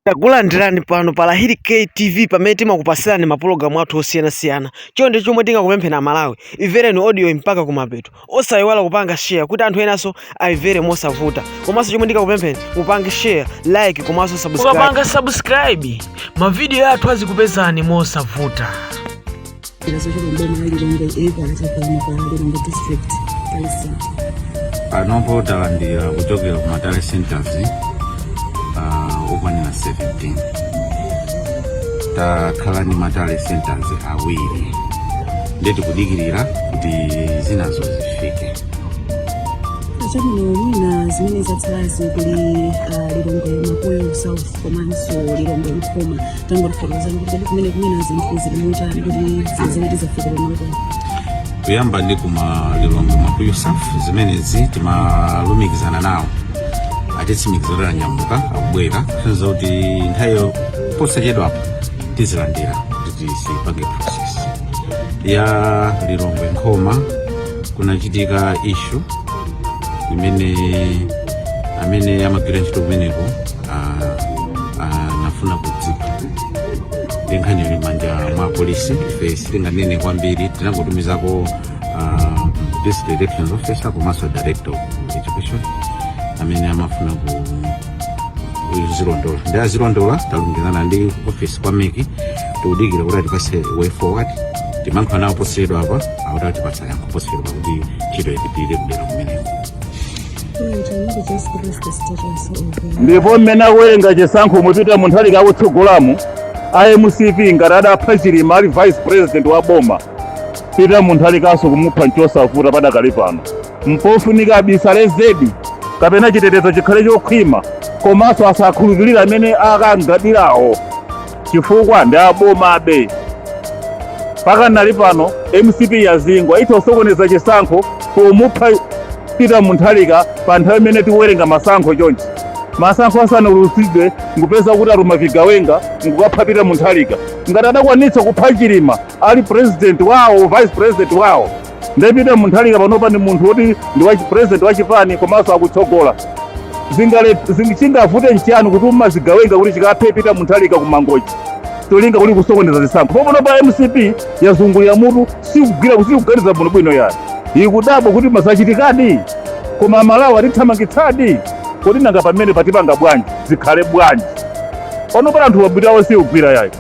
Takulandirani pano pa Lahiri K TV pamene timakupasirani mapulogalamu athu osiyanasiyana. Chonde chomwe tingakupempheni Amalawi, imvereni audioyi mpaka kumapeto. Osayiwala kupanga share kuti anthu enanso ayimvere mosavuta. Komanso chomwe ndingakupempheni mupange share, like komanso subscribe. Mukapanga subscribe, mavidiyo athu azikupezani mosavuta. panopo talandira kuchokera ku matally centers uh, okwanira 17 takhala ndi matally centers awiri ndiye tikudikirira kuti zinazo zifike chabwino mwina zimene zatsalazi kuli ah, lilongwe mapuyu south komanso lilongwe nkhoma tangotifotokozerani kuti kodi kumeneko zinthu zili motani kuti sizidafike pamalo pano kuyamba ndi kuma lilongwe mapuyu south zimenezi timalumikizana nawo atitsimikiza kuti anyamuka akubwera kutanthauza kuti nthawiyo posachedwapa tizilandira kuti tizipanga process ya lilongwe nkhoma kunachitika issue imene amene amagwira ntchito kumeneko ah, anafuna kudzipha ndi nkhani yili manja mwa polisi ife sitinganene kwambiri tinangotumizako ah, district elections officer komanso director of education amene amafuna kuzilondola ndiye azilondola talumikizana ndi office kwa MEC tikudikira kuti atipatse way forward timalankhula nawo posachedwapa akuti atipatsa yankho posachedwa kuti ntchito ipitirire kudera kumeneko ndipo mmene akuwerenga chisankho m'peter mutharika akutsogolamu a mcp ngati adapha chilima ali vice president wa boma peter mutharikanso kumupha nchosavuta padakali pano mpofunika abisale zedi kapena chitetezo chikhale chokhwima komanso asakhulupirira amene akang'adirawo chifukwa ndi abomabe pakadali pano mcp yazingwa itha kusokoneza chisankho pomupha peter mutharika pa nthawi imene tikuwerenga masankho choncho masankho asanaulutsidwe nkupezeka kuti atuma zigawenga nkukapha peter mutharika ngati adakwanitsa kupha chilima ali president wawo vice president wawo Nde Peter Mutharika panopa ndi munthu woti ndi president wa chipani komanso akutsogola chingavute nchiyani kutuma zigawenga kuti zikaphe Peter Mutharika ku Mangochi tolinga kuti kusokoneza zisankho panopa mcp yazungulira mutu sikugwira sikuganiza bwino bwino yayi ikudabwa kuti ma zachitikadi koma amalawi atithamangitsadi kodi nanga pamene patipanga bwanji zikhale bwanji panopa anthuwa mitu yawo sikugwira yayi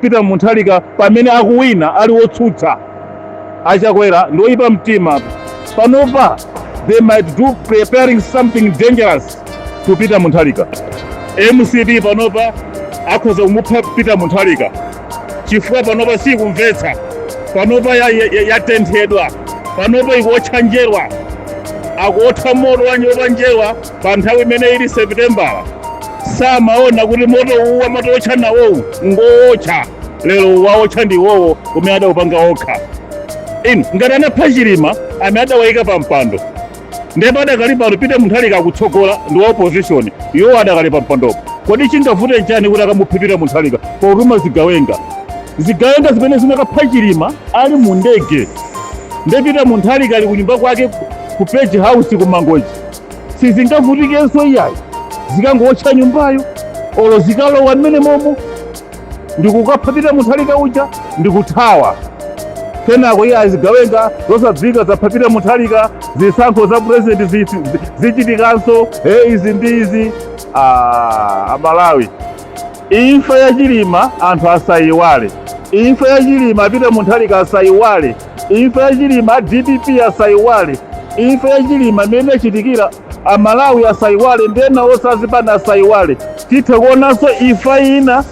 Peter Munthalika pamene akuwina ali wotsutsa achakwera ndi oyipa mtima panopa they might do preparing something dangerous to Peter Munthalika mcp panopa akhoza kumupha Peter Munthalika chifukwa panopa sikumvetsa panopa yatenthedwa ya, ya panopa ikuotcha njerwa akuotha moto wa njerwa pa nthawi imene ili sepitembala samaona kuti moto uwu amatiwotcha nawowu ngowotcha lero wawotcha ndi iwowo umene adawupanga okha inu ngati anapha chilima amene adawayika pa mpando ndipo adakali pano Peter Munthalika akutsogola ndi wa opposition iwo adakali pa mpandopo kodi chingavute nchani kuti akamuphe Peter Munthalika potuma zigawenga zigawenga zimene zinakapha chilima ali mu ndege nde Peter Munthalika ali kunyumba kwake ku page house ku mangochi sizingavutikenso iyayi zikangowotcha nyumbayo olo zikalowa mmene momo ndikukapha Peter Munthalika uja ndikuthawa kenako iyayi zigawenga zosadziwika zapha Peter Munthalika zisankho za purezidenti zi- zi- zichitikanso e izi ndi izi Ah, amalawi imfa ya chilima anthu asayiwale imfa ya chilima a Peter Munthalika asayiwale imfa ya chilima a dpp asaiwale imfa ya chilima imene inachitikira amalawi asaiwale ndi ena onse azipani asaiwale titha kuonanso imfa ina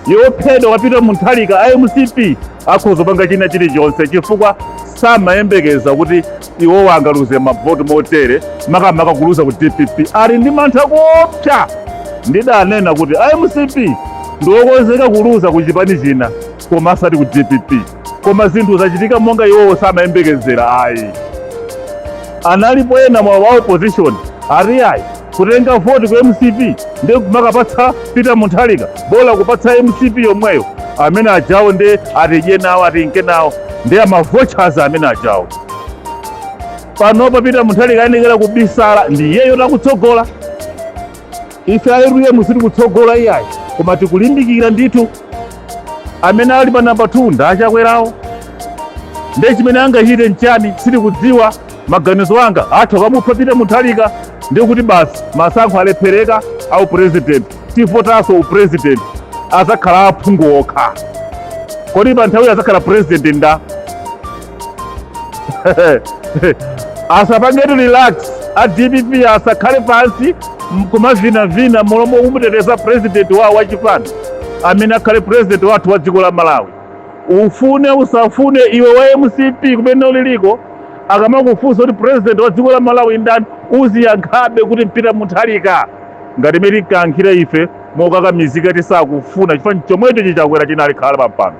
yophedwa kwa Peter Munthalika a mcp akhoza panga china chilichonse chifukwa samayembekeza kuti iwowo angaluze mavoti motere makamaka kuluza ku dpp ali ndi mantha koopsa ndidanena kuti a mcp ndiokonzeka kuluza ku chipani china koma asati ku dpp koma zinthu zachitika monga iwowo samayembekezera ayi analipo ena mwa wa opposition ati iyayi kutenga voti ku mcp ndi kumakapatsa peter munthalika bola kupatsa mcp yomweyo amene ajawo ndi atidye nawo atinke nawo ndi amavochas amene ajawo panopa peter munthalika ayenekera kubisala ndi iyeyotu akutsogola ife a utm sitikutsogola iyayi koma tikulimbikira ndithu amene ali pa namba 2 ndi achakwerawo ndiye chimene angachite nchani sitikudziwa maganizo anga athu akamupha Peter Muthalika ndiye kuti basi masankho alephereka a upurezidenti tivotanso upurezidenti azakhala aphungu okha kodi pa nthawiyo azakhala purezidenti nda asapangetu relax a dpp asakhale pansi kumavinavina mmalo momuteteza president wawo wachipani amene akhale president wathu wa dziko la malawi ufune usafune iwe wa mcp kumene uliliko akamakufunsa kuti president wa dziko la malawi ndani uziyankhabe kuti Peter Mutharika ngati imene tinkayankhira ife mokakamizika tisakufuna chifanifani chomwecho chi Chakwera chinalikhala pampando